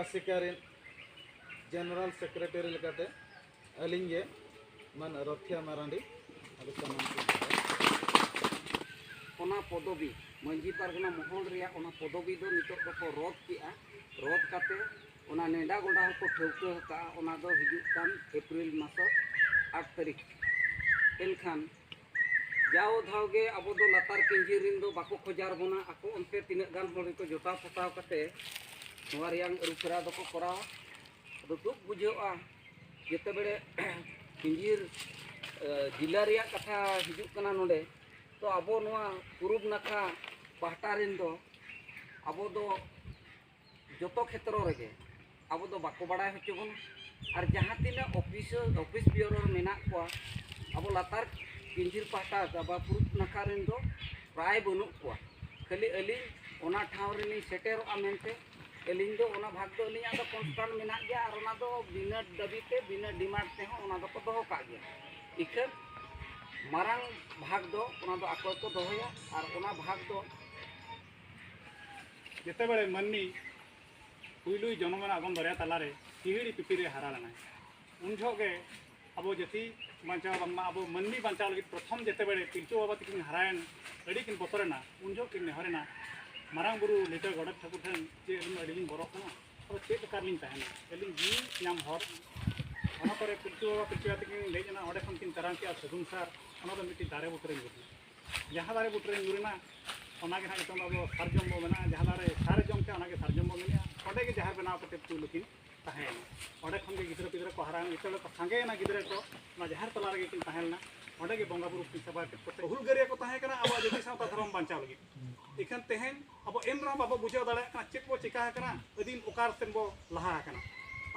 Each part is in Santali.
ᱟᱥᱮᱠᱟ ᱨᱮᱱ ᱡᱮᱱᱟᱨᱮᱞ ᱥᱮᱠᱨᱮᱴᱟᱨᱤ ᱞᱮᱠᱟᱛᱮ ᱟᱹᱞᱤᱧ ᱜᱮ ᱢᱟᱱ ᱨᱚᱛᱷᱤᱭᱟ ᱢᱟᱨᱟᱱᱰᱤ ᱟᱫᱚ ᱥᱟᱱᱟᱢ ᱚᱱᱟ ᱯᱚᱫᱚᱵᱤ ᱢᱟᱹᱡᱷᱤ ᱯᱟᱨᱜᱟᱱᱟ ᱢᱚᱦᱚᱞ ᱨᱮᱭᱟᱜ ᱚᱱᱟ ᱯᱚᱫᱚᱵᱤ ᱫᱚ ᱱᱤᱛᱚᱜ ᱫᱚᱠᱚ ᱨᱚᱫ ᱠᱮᱜᱼᱟ ᱨᱚᱫ ᱠᱟᱛᱮ ᱚᱱᱟ ᱱᱮᱰᱟ ᱜᱚᱰᱟ ᱦᱚᱸᱠᱚ ᱴᱷᱟᱹᱣᱠᱟᱹ ᱟᱠᱟᱫᱼᱟ ᱚᱱᱟ ᱫᱚ ᱦᱤᱡᱩᱜ ᱠᱟᱱ ᱮᱯᱨᱤᱞ ᱢᱟᱥᱚ ᱟᱴ ᱛᱟᱹᱨᱤᱠᱷ ᱮᱱᱠᱷᱟᱱ ᱡᱟᱣ ᱫᱷᱟᱣ ᱜᱮ ᱟᱵᱚ ᱫᱚ ᱞᱟᱛᱟᱨ ᱠᱮᱱᱡᱤ ᱨᱮᱱ ᱫᱚ ᱵᱟᱠᱚ ᱠᱷᱚᱡᱟᱨ ᱵᱚᱱᱟ ᱟᱠᱚ ᱚᱱᱛᱮ ᱛᱤᱱᱟᱹᱜ ᱜᱟᱱ ᱦᱚᱲ ᱜᱮᱠᱚ ᱡᱚᱴᱟᱣ ᱯᱚᱴᱟᱣ ᱠᱟᱛᱮ ᱱᱚᱣᱟ ᱨᱮᱭᱟᱝ ᱟᱹᱨᱩᱯᱷᱮᱨᱟᱣ ᱫᱚᱠᱚ ᱠᱚᱨᱟᱣᱟ ᱟᱫᱚ ᱫᱩᱠ ᱵᱩᱡᱷᱟᱹᱜᱼᱟ ᱡᱮᱛᱮ ᱵᱮᱲᱮ ᱠᱮᱱᱡᱤᱨ ᱡᱮᱞᱟ ᱨᱮᱭᱟᱜ ᱠᱟᱛᱷᱟ ᱦᱤᱡᱩᱜ ᱠᱟᱱᱟ ᱱᱚᱰᱮ ᱛᱚ ᱟᱵᱚ ᱱᱚᱣᱟ ᱯᱩᱨᱩᱵ ᱱᱟᱠᱷᱟ ᱯᱟᱦᱴᱟ ᱨᱮᱱ ᱫᱚ ᱟᱵᱚ ᱫᱚ ᱡᱚᱛᱚ ᱠᱷᱮᱛᱨᱚ ᱨᱮᱜᱮ ᱟᱵᱚ ᱫᱚ ᱵᱟᱠᱚ ᱵᱟᱲᱟᱭ ᱦᱚᱪᱚ ᱵᱚᱱᱟ ᱟᱨ ᱡᱟᱦᱟᱸ ᱛᱤᱱᱟᱹᱜ ᱚᱯᱷᱤᱥᱟᱨ ᱚᱯᱷᱤᱥ ᱵᱤᱭᱳᱨᱳ ᱨᱮ ᱢᱮᱱᱟᱜ ᱠᱚᱣᱟ ᱟᱵᱚ ᱞᱟᱛᱟᱨ ᱯᱤᱱᱡᱷᱤᱨ ᱯᱟᱦᱴᱟ ᱵᱟ ᱯᱩᱨᱩᱵ ᱱᱟᱠᱷᱟ ᱨᱮᱱ ᱫᱚ ᱯᱨᱟᱭ ᱵᱟᱹᱱᱩᱜ ᱠᱚᱣᱟ ᱠᱷᱟᱹᱞᱤ ᱟᱹᱞᱤᱧ ᱚᱱᱟ ᱴᱷᱟᱶ ᱨᱮᱞᱤᱧ ᱥᱮᱴᱮᱨᱚᱜᱼᱟ ᱢᱮᱱᱛᱮ ᱟᱹᱞᱤᱧ ᱫᱚ ᱚᱱᱟ ᱵᱷᱟᱜᱽ ᱫᱚ ᱟᱹᱞᱤᱧᱟᱜ ᱫᱚ ᱠᱚᱱᱥᱴᱟᱱᱴ ᱢᱮᱱᱟᱜ ᱜᱮᱭᱟ ᱟᱨ ᱚᱱᱟ ᱫᱚ ᱵᱤᱱᱟᱹ ᱫᱟᱹᱵᱤ ᱛᱮ ᱵᱤᱱᱟᱹ ᱰᱤᱢᱟᱱᱰ ᱛᱮᱦᱚᱸ ᱚᱱᱟ ᱫᱚᱠᱚ ᱫᱚᱦᱚ ᱠᱟᱜ ᱜᱮᱭᱟ ᱤᱠᱷᱟᱹᱱ ᱢᱟᱨᱟᱝ ᱵᱷᱟᱜᱽ ᱫᱚ ᱚᱱᱟ ᱫᱚ ᱟᱠᱚ ᱜᱮᱠᱚ ᱫᱚᱦᱚᱭᱟ ᱟᱨ ᱚᱱᱟ ᱵᱷᱟᱜᱽ ᱫᱚ ᱡᱮᱛᱮ ᱵᱮᱲᱮ ᱢᱟᱹᱱᱢᱤ ᱯᱩᱭᱞᱩᱭ ᱡᱚᱱᱚᱢᱮᱱᱟ ᱟᱜᱚᱢ ᱫᱚᱨᱭᱟ ᱛᱟᱞᱟᱨᱮ ᱦᱤᱦᱤᱲᱤ ᱯᱤᱯᱤᱲᱤ ᱦᱟᱨᱟ ᱞᱮᱱᱟᱭ ᱩᱱ ᱡᱚᱦᱚᱜ ᱜᱮ ᱟᱵᱚ ᱡᱟᱹᱛᱤ ᱵᱟᱧᱪᱟᱣ ᱵᱟᱝᱢᱟ ᱟᱵᱚ ᱢᱟᱹᱱᱢᱤ ᱵᱟᱧᱪᱟᱣ ᱞᱟᱹᱜᱤᱫ ᱯᱨᱚᱛᱷᱚᱢ ᱡᱮᱛᱮ ᱵᱮᱲᱮ ᱯᱤᱞᱪᱩ ᱵᱟᱵᱟ ᱛᱤᱠᱤᱱ ᱦᱟᱨᱟᱭᱮᱱ ᱟᱹᱰᱤ ᱠᱤᱱ ᱵᱚᱛᱚᱨᱮᱱᱟ ᱩᱱ ᱡᱚᱦᱚᱜ ᱠᱤᱱ ᱱᱮᱦᱚᱨᱮᱱᱟ ᱢᱟᱨᱟᱝ ᱵᱩᱨᱩ ᱞᱤᱴᱟᱹ ᱜᱚᱰᱮᱛ ᱴᱷᱟᱹᱠᱩᱨ ᱴᱷᱮᱱ ᱡᱮ ᱟᱹᱞᱤᱧ ᱟᱹᱰᱤ ᱞᱤᱧ ᱵᱚᱨᱚᱜ ᱠᱟᱱᱟ ᱟᱫᱚ ᱪᱮᱫ ᱞᱮᱠᱟ ᱞᱤᱧ ᱛᱟᱦᱮᱱᱟ ᱟᱹᱞᱤᱧ ᱡᱤᱣᱤ ᱧᱟᱢ ᱦᱚᱨ ᱚᱱᱟ ᱯᱚᱨᱮ ᱯᱤᱞᱪᱩ ᱵᱟᱵᱟ ᱯᱤᱞᱪᱩ ᱟᱭᱳ ᱛᱤᱠᱤᱱ ᱞᱮᱡ ᱮᱱᱟ ᱚᱸᱰᱮ ᱠᱷᱚᱱ ᱠᱤᱱ ᱛᱟᱨᱟᱝ ᱠᱮᱜᱼᱟ ᱥᱟᱹᱜᱩᱱ ᱥᱟᱨ ᱚᱱᱟ ᱫᱚ ᱢᱤᱫᱴᱤᱡ ᱫᱟᱨᱮ ᱵᱩᱴᱟᱹ ᱨᱮ ᱧᱩᱨ ᱮᱱᱟ ᱡᱟᱦᱟᱸ ᱫᱟᱨᱮ ᱵᱩᱴᱟᱹᱨᱮ ᱧᱩᱨᱮᱱᱟ ᱚᱱᱟᱜᱮ ᱦᱟᱸᱜ ᱱᱤᱛᱚᱝ ᱟᱵᱚ ᱥᱟᱨᱡᱚᱢ ᱵᱚ ᱢᱮᱱᱟ ᱡᱟᱦᱟᱸ ᱫᱟᱨᱮ ᱥᱟᱨᱮ ᱡᱚᱢ ᱠᱮᱜᱼᱟ ᱚᱱᱟᱜᱮ ᱥᱟᱨᱡᱚᱢ ᱵᱚ ᱢᱮᱱᱮᱜᱼᱟ ᱚᱸᱰᱮ ᱜᱮ ᱡᱟᱦᱮᱨ ᱵᱮᱱᱟᱣ ᱠᱟᱛᱮ ᱯᱩᱭᱞᱩ ᱠᱤᱱ ᱛᱟᱦᱮᱸᱭᱮᱱᱟ ᱚᱸᱰᱮ ᱠᱷᱚᱱ ᱜᱮ ᱜᱤᱫᱽᱨᱟᱹ ᱯᱤᱫᱽᱨᱟᱹ ᱠᱚ ᱦᱟᱨᱟᱭᱮᱱᱟ ᱱᱤᱛᱚᱜ ᱠᱚ ᱥᱟᱸᱜᱮᱭᱮᱱᱟ ᱜᱤᱫᱽᱨᱟᱹ ᱠᱚ ᱚᱱᱟ ᱡᱟᱦᱮᱨ ᱛᱟᱞᱟ ᱨᱮᱜᱮ ᱠᱤᱱ ᱛᱟᱦᱮᱸ ᱞᱮᱱᱟ ᱚᱸᱰᱮ ᱜᱮ ᱵᱚᱸᱜᱟ ᱵᱩᱨᱩ ᱠᱤᱱ ᱥᱮᱵᱟ ᱠᱮᱫ ᱠᱚᱛᱮ ᱦᱩᱞᱜᱟᱹᱨᱤᱭᱟᱹ ᱠᱚ ᱛᱟᱦᱮᱸ ᱠᱟᱱᱟ ᱟᱵᱚᱣᱟᱜ ᱡᱟᱹᱛᱤ ᱥᱟᱶᱛᱟ ᱫᱷᱚᱨᱚᱢ ᱵᱟᱧᱪᱟᱣ ᱞᱟᱹᱜᱤᱫ ᱤᱠᱷᱟᱹᱱ ᱛᱮᱦᱮᱧ ᱟᱵᱚ ᱮᱱ ᱨᱮᱦᱚᱸ ᱵᱟᱵᱚ ᱵᱩᱡᱷᱟᱹᱣ ᱫᱟᱲᱮᱭᱟᱜ ᱠᱟᱱᱟ ᱪᱮᱫ ᱵᱚ ᱪᱤᱠᱟ ᱟᱠᱟᱱᱟ ᱟᱹᱫᱤᱢ ᱚᱠᱟ ᱥᱮᱱ ᱵᱚ ᱞᱟᱦᱟ ᱟᱠᱟᱱᱟ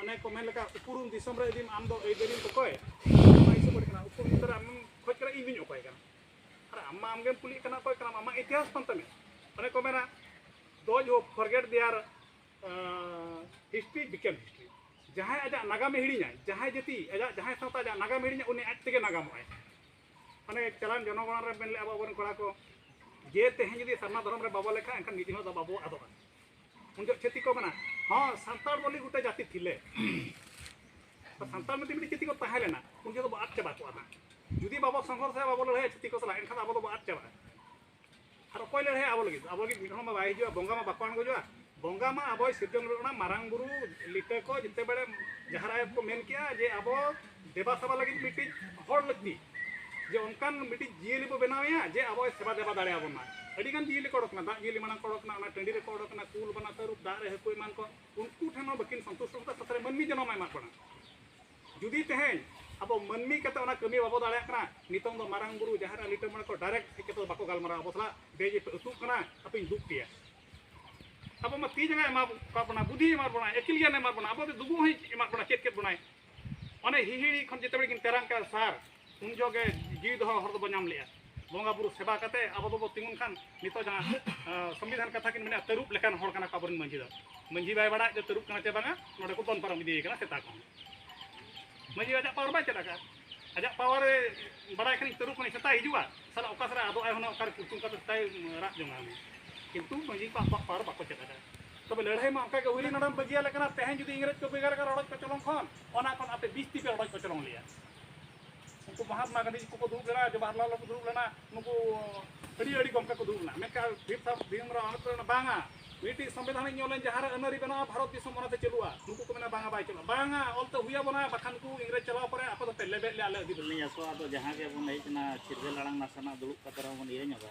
ᱚᱱᱮ ᱠᱚ ᱢᱮᱱ ᱞᱮᱠᱟ ᱩᱯᱨᱩᱢ ᱫᱤᱥᱚᱢ ᱨᱮ ᱟᱹᱫᱤᱢ ᱟᱢ ᱫᱚ ᱟᱹᱭᱫᱟᱹᱨᱤᱢ ᱚᱠᱚᱭ ᱚᱱᱟ ᱦᱤᱥᱟᱹᱵ ᱟᱹᱰᱤ ᱠᱟᱱᱟ ᱩᱯᱨᱩᱢ ᱫᱤᱥᱚᱢ ᱨᱮ ᱟᱢ ᱠᱷᱚᱡ ᱠᱟᱱᱟ ᱤᱧ ᱫᱩᱧ ᱚᱠᱚᱭ ᱠᱟᱱᱟ ᱟᱨ ᱟᱢ ᱢᱟ ᱟᱢᱜᱮᱢ ᱠᱩᱞᱤᱜ ᱠᱟᱱᱟ ᱚᱠᱚᱭ ᱠᱟᱱᱟᱢ ᱟᱢᱟᱜ ᱤᱛᱤᱦᱟᱥ ᱠᱟᱱ ᱛᱟᱢᱮ ᱚᱱᱮ ᱠᱚ ᱢᱮᱱᱟ ᱫᱚᱡᱽ ᱦᱚ forget their history became history ᱡᱟᱦᱟᱸᱭ ᱟᱡᱟᱜ ᱱᱟᱜᱟᱢᱮ ᱦᱤᱲᱤᱧᱟᱭ ᱡᱟᱦᱟᱸᱭ ᱡᱟᱹᱛᱤ ᱟᱡᱟᱜ ᱡᱟᱦᱟᱸᱭ ᱥᱟᱶᱛᱟ ᱟᱡᱟᱜ ᱱᱟᱜᱟᱢ ᱦᱤᱲᱤᱧᱟ ᱩᱱᱤ ᱟᱡ ᱛᱮᱜᱮ ᱱᱟᱜᱟᱢᱚᱜᱼᱟᱭ ᱢᱟᱱᱮ ᱪᱟᱞᱟᱱ ᱡᱚᱱᱚᱜᱚᱬᱟ ᱨᱮ ᱢᱮᱱ ᱞᱮᱫᱼᱟ ᱟᱵᱚ ᱟᱵᱚᱨᱮᱱ ᱠᱚᱲᱟ ᱠᱚ ᱡᱮ ᱛᱮᱦᱮᱧ ᱡᱩᱫᱤ ᱥᱟᱨᱱᱟ ᱫᱷᱚᱨᱚᱢ ᱨᱮ ᱵᱟᱵᱚ ᱞᱮᱠᱷᱟᱜᱼᱟ ᱮᱱᱠᱷᱟᱱ ᱢᱤᱫ ᱫᱤᱱ ᱦᱤᱞᱳᱜ ᱫᱚ ᱵᱟᱵᱚ ᱟᱫᱚᱜᱼᱟ ᱩᱱᱡᱚᱜ ᱪᱷᱟᱹᱛᱤᱠ ᱠᱚ ᱠᱟᱱᱟ ᱦᱚᱸ ᱥᱟᱱᱛᱟᱲ ᱵᱚᱞᱮ ᱜᱚᱴᱟ ᱡᱟᱹᱛᱤ ᱛᱷᱤᱞᱮ ᱥᱟᱱᱛᱟᱲ ᱢᱤᱫᱴᱤᱡ ᱢᱤᱫᱴᱤᱡ ᱪᱷᱟᱹᱛᱤᱠ ᱠᱚ ᱛᱟᱦᱮᱸ ᱞᱮᱱᱟ ᱩᱱ ᱡᱚᱠᱷᱚᱱ ᱵᱚ ᱟᱫ ᱪᱟᱵᱟ ᱠᱚᱜᱼᱟ ᱱᱟᱜ ᱡᱩᱫᱤ ᱵᱟᱵᱚ ᱥᱚᱝᱜᱷᱚᱨᱥᱟ ᱵᱟᱵᱚ ᱞᱟᱹᱲᱦᱟᱹᱭᱟ ᱪᱷᱟᱹᱛᱤᱠ ᱠᱚ ᱥᱟᱞᱟᱜ ᱮᱱᱠᱷᱟᱱ ᱟᱵᱚ ᱫᱚᱵᱚ ᱟᱫ ᱪᱟᱵᱟᱜᱼᱟ ᱟᱨ ᱚᱠᱚᱭ ᱞᱟᱹᱲᱦᱟᱹᱭᱟ ᱟᱵᱚ ᱞᱟᱹᱜᱤᱫ ᱟᱵᱚ ᱞᱟᱹᱜᱤᱫ ᱢᱤᱫ ᱦᱚᱲ ᱢᱟ ᱵᱟᱭ ᱦᱤᱡᱩᱜᱼᱟ ᱵᱚᱸᱜᱟ ᱢᱟ ᱵᱟᱠᱚ ᱟᱬᱜᱚᱡᱚᱜᱼᱟ ᱵᱚᱸᱜᱟ ᱢᱟ ᱟᱵᱚᱭ ᱥᱤᱨᱡᱚᱱ ᱞᱮᱫ ᱵᱚᱱᱟ ᱢᱟᱨᱟᱝ ᱵᱩᱨᱩ ᱞᱤᱴᱟᱹ ᱠᱚ ᱡᱮᱛᱮ ᱵᱟᱲᱮ ᱡᱟᱦᱟᱸ ᱨᱟᱭ ᱠᱚ ᱢᱮᱱ ᱠᱮᱜᱼᱟ ᱡᱮ ᱟᱵᱚ ᱫᱮᱵᱟ ᱥᱮᱵᱟ ᱞᱟᱹᱜᱤᱫ ᱢᱤᱫᱴᱤᱡ ᱦᱚᱲ ᱞᱟᱹᱠᱛᱤ ᱡᱮ ᱚᱱᱠᱟᱱ ᱢᱤᱫᱴᱤᱡ ᱡᱤᱭᱟᱹᱞᱤ ᱵᱚ ᱵᱮᱱᱟᱣᱮᱭᱟ ᱡᱮ ᱟᱵᱚ ᱥᱮᱵᱟ ᱫᱮᱵᱟ ᱫᱟᱲᱮᱭᱟᱵᱚᱱ ᱢᱟ ᱟᱹᱰᱤᱜᱟᱱ ᱡᱤᱭᱟᱹᱞᱤ ᱠᱚ ᱚᱰᱚᱠᱱᱟ ᱫᱟᱜ ᱡᱤᱭᱟᱹᱞᱤ ᱢᱟᱲᱟᱝ ᱠᱚ ᱚᱰᱚᱠᱱᱟ ᱚᱱᱟ ᱴᱟᱺᱰᱤ ᱨᱮᱠᱚ ᱚᱰᱚᱠᱱᱟ ᱠᱩᱞ ᱵᱟᱱᱟ ᱛᱟᱹᱨᱩᱵ ᱫᱟᱜ ᱨᱮ ᱦᱟᱹᱠᱩ ᱮᱢᱟᱱ ᱠᱚ ᱩᱱᱠᱩ ᱴᱷᱮᱱ ᱦᱚᱸ ᱵᱟᱹᱠᱤᱱ ᱥᱚᱱᱛᱩᱥᱴᱚ ᱠᱟᱛᱮ ᱥᱟᱛᱨᱮ ᱢᱟᱹᱱᱢᱤ ᱡᱚᱱᱚᱢ ᱮᱢᱟᱜ ᱵᱚᱱᱟ ᱡᱩᱫᱤ ᱛᱮᱦᱮᱧ ᱟᱵᱚ ᱢᱟᱹᱱᱢᱤ ᱠᱟᱛᱮ ᱚᱱᱟ ᱠᱟᱹᱢᱤ ᱵᱟᱵᱚ ᱫᱟᱲᱮᱭᱟᱜ ᱠᱟᱱᱟ ᱱᱤᱛᱚᱝ ᱫᱚ ᱢᱟᱨᱟᱝ ᱵᱩᱨᱩ ᱡᱟᱦᱮᱨ ᱟᱨ ᱞᱤᱴᱟᱹ ᱢᱚᱬᱮ ᱠᱚ ᱰᱟᱭᱨᱮᱠᱴ ᱦᱮᱡ ᱠᱟᱛᱮ ᱵᱟᱠᱚ ᱜᱟᱞᱢᱟᱨᱟᱣ ᱟᱵᱚ ᱥᱟᱞᱟᱜ ᱵᱮᱡ ᱟᱹᱛᱩᱜ ᱠᱟᱱᱟ ᱟᱯᱮᱧ ᱫᱩᱜ ᱯᱮᱭᱟ ᱟᱵᱚ ᱢᱟ ᱛᱤ ᱡᱟᱸᱜᱟ ᱮᱢᱟ ᱵᱚᱱᱟ ᱵᱩᱫᱷᱤ ᱮᱢᱟ ᱵᱚᱱᱟ ᱟᱹᱠᱤᱞ ᱜᱮᱭᱟᱱ ᱮᱢᱟ ᱵᱚᱱᱟ ᱟᱵᱚ ᱫᱚ ᱫᱩᱵᱩᱜ ᱦᱚᱸᱭ ᱮᱢᱟ ᱵᱚᱱᱟ ᱪᱮᱫ ᱠᱮᱫ ᱵᱚᱱᱟᱭ ᱚᱱᱮ ᱦᱤᱦᱤᱲᱤ ᱠᱷᱚᱱ ᱡᱮᱛᱮ ᱵᱮᱲᱮ ᱠᱤᱱ ᱛᱮᱨᱟᱝ ᱠᱟᱜᱼᱟ ᱥᱟᱨ ᱩᱱ ᱡᱚᱜᱮ ᱡᱤᱣᱤ ᱫᱚᱦᱚ ᱦᱚᱨ ᱫᱚᱵᱚ ᱧᱟᱢ ᱞᱮᱜᱼᱟ ᱵᱚᱸᱜᱟ ᱵᱩᱨᱩ ᱥᱮᱵᱟ ᱠᱟᱛᱮ ᱟᱵᱚ ᱫᱚᱵᱚ ᱛᱤᱸᱜᱩᱱ ᱠᱷᱟᱱ ᱱᱤᱛᱚᱜ ᱡᱟᱦᱟᱸ ᱥᱚᱝᱵᱤᱫᱷᱟᱱ ᱠᱟᱛᱷᱟ ᱠᱤᱱ ᱢᱮᱱᱟ ᱛᱟᱹᱨᱩᱵ ᱞᱮᱠᱟᱱ ᱦᱚᱲ ᱠᱟᱱᱟ ᱠᱚ ᱟᱵᱚᱨᱮᱱ ᱢᱟᱹᱡᱷᱤ ᱫᱚ ᱢᱟᱹᱡᱷᱤ ᱵᱟᱭ ᱵᱟᱲᱟᱭ ᱡᱮ ᱛᱟᱹᱨᱩᱵ ᱠᱟᱱᱟ ᱪᱮ ᱵᱟᱝᱟ ᱱᱚᱰᱮ ᱠᱚ ᱫᱚᱱ ᱯᱟᱨᱚᱢ ᱤᱫᱤᱭᱮ ᱠᱟᱱᱟ ᱥᱮᱛᱟ ᱠᱚ ᱢᱟᱹᱡᱷᱤ ᱟᱡᱟᱜ ᱯᱟᱣᱟᱨ ᱵᱟᱭ ᱪᱮᱫ ᱟᱠᱟᱫᱼᱟ ᱟᱡᱟᱜ ᱯᱟᱣᱟᱨ ᱵᱟᱲᱟᱭ ᱠᱷᱟᱱᱤᱧ ᱛᱟᱹᱨᱩᱵ ᱠᱟᱹᱱᱟᱹᱧ ᱥᱮᱛᱟᱭ ᱦᱤᱡᱩᱜᱼᱟ ᱥᱟᱞᱟ ᱚᱠᱟ ᱥᱮᱫ ᱟᱫᱚᱜᱼᱟᱭ ᱦᱩᱱᱟᱹᱝ ᱚᱠᱟᱨᱮ ᱠᱩᱴᱩᱢ ᱠᱟᱛᱮ ᱥᱮᱛᱟᱭ ᱨᱟᱜ ᱡᱚᱝᱟ ᱠᱤᱱᱛᱩ ᱢᱟᱹᱡᱷᱤ ᱠᱚ ᱟᱠᱚᱣᱟᱜ ᱯᱟᱣᱟᱨ ᱵᱟᱠᱚ ᱪᱮᱫ ᱟᱠᱟᱫᱼᱟ ᱛᱚᱵᱮ ᱞᱟᱹᱲᱦᱟᱹᱭ ᱢᱟ ᱚᱱᱠᱟ ᱜᱮ ᱦᱩᱭ ᱞᱮᱱᱟ ᱵᱟᱹᱜᱤᱭᱟ ᱞᱮᱠᱟᱱᱟ ᱛᱮᱦᱮᱧ ᱡᱩᱫᱤ ᱤᱝᱨᱮᱡᱽ ᱠᱚ ᱵᱮᱜᱟᱨ ᱠᱟᱱ ᱨᱚᱰᱚᱡ ᱠᱚᱪᱚᱞᱚᱝ ᱠᱷᱚᱱ ᱚᱱᱟ ᱠᱷᱚᱱ ᱟᱯᱮ ᱵᱤᱥ ᱛᱤᱯᱮ ᱨᱚᱰᱚᱡ ᱠᱚᱪᱚᱞᱚᱝ ᱞᱮᱭᱟ ᱩᱱᱠᱩ ᱢᱚᱦᱟᱛᱢᱟ ᱜᱟᱱᱫᱷᱤ ᱠᱚᱠᱚ ᱫᱩᱲᱩᱵ ᱞᱮᱱᱟ ᱡᱚᱵᱟᱦᱚᱨᱞᱟᱞ ᱠᱚ ᱫᱩᱲᱩᱵ ᱞᱮᱱᱟ ᱱᱩᱠᱩ ᱟᱹᱰᱤ ᱟᱹᱰᱤ ᱜᱚᱢᱠᱮ ᱠᱚ ᱫᱩᱲᱩᱵ ᱞᱮᱱᱟ ᱢᱮᱱᱠᱷᱟᱱ ᱵᱷᱤᱢ ᱥᱟᱶ ᱵᱷᱤᱢ ᱨᱟᱣ ᱟᱢᱵᱮᱫᱠᱚᱨ ᱞᱮᱱᱟ ᱵᱟᱝᱟ ᱢᱤᱫᱴᱤᱡ ᱥᱚᱝᱵᱤᱫᱷᱟᱱ ᱤᱧ ᱚᱞᱟᱹᱧ ᱡᱟᱦᱟᱸ ᱨᱮ ᱟᱹᱱᱟᱹᱨᱤ ᱵᱮᱱᱟᱜᱼᱟ ᱵᱷᱟᱨᱚᱛ ᱫᱤᱥᱚᱢ ᱚᱱᱟᱛᱮ ᱪᱟᱹᱞᱩᱜᱼᱟ ᱱᱩᱠᱩ ᱠᱚ ᱢᱮᱱᱟ ᱵᱟᱝᱟ ᱵᱟᱭ ᱪᱟᱹᱞᱩᱜᱼᱟ ᱵᱟᱝᱟ ᱚᱞᱛᱮ ᱦᱩᱭ ᱟᱵᱚᱱᱟ ᱵᱟᱠᱷᱟᱱ ᱩᱱᱠᱩ ᱤᱝᱨᱮᱡᱽ ᱪᱟᱞᱟᱣ ᱯᱚᱨᱮ ᱟᱯᱮ ᱫᱚᱯᱮ ᱞᱮᱵᱮᱫ ᱞᱮ ᱟᱞᱮ ᱟᱹᱫᱤᱵᱟᱹᱥᱤ ᱟᱥᱚᱜᱼᱟ ᱟᱫᱚ ᱡᱟᱦᱟᱸ ᱜᱮ ᱵᱚᱱ ᱦᱮᱡ ᱮᱱᱟ ᱪᱤᱨᱜᱟᱹᱞ ᱟᱲᱟᱝ ᱱᱟᱥᱮᱱᱟᱜ ᱫᱩᱲᱩᱵ ᱠᱟᱛᱮ ᱨᱮᱦᱚᱸ ᱵᱚᱱ ᱤᱭᱟᱹ ᱧᱚᱜᱟ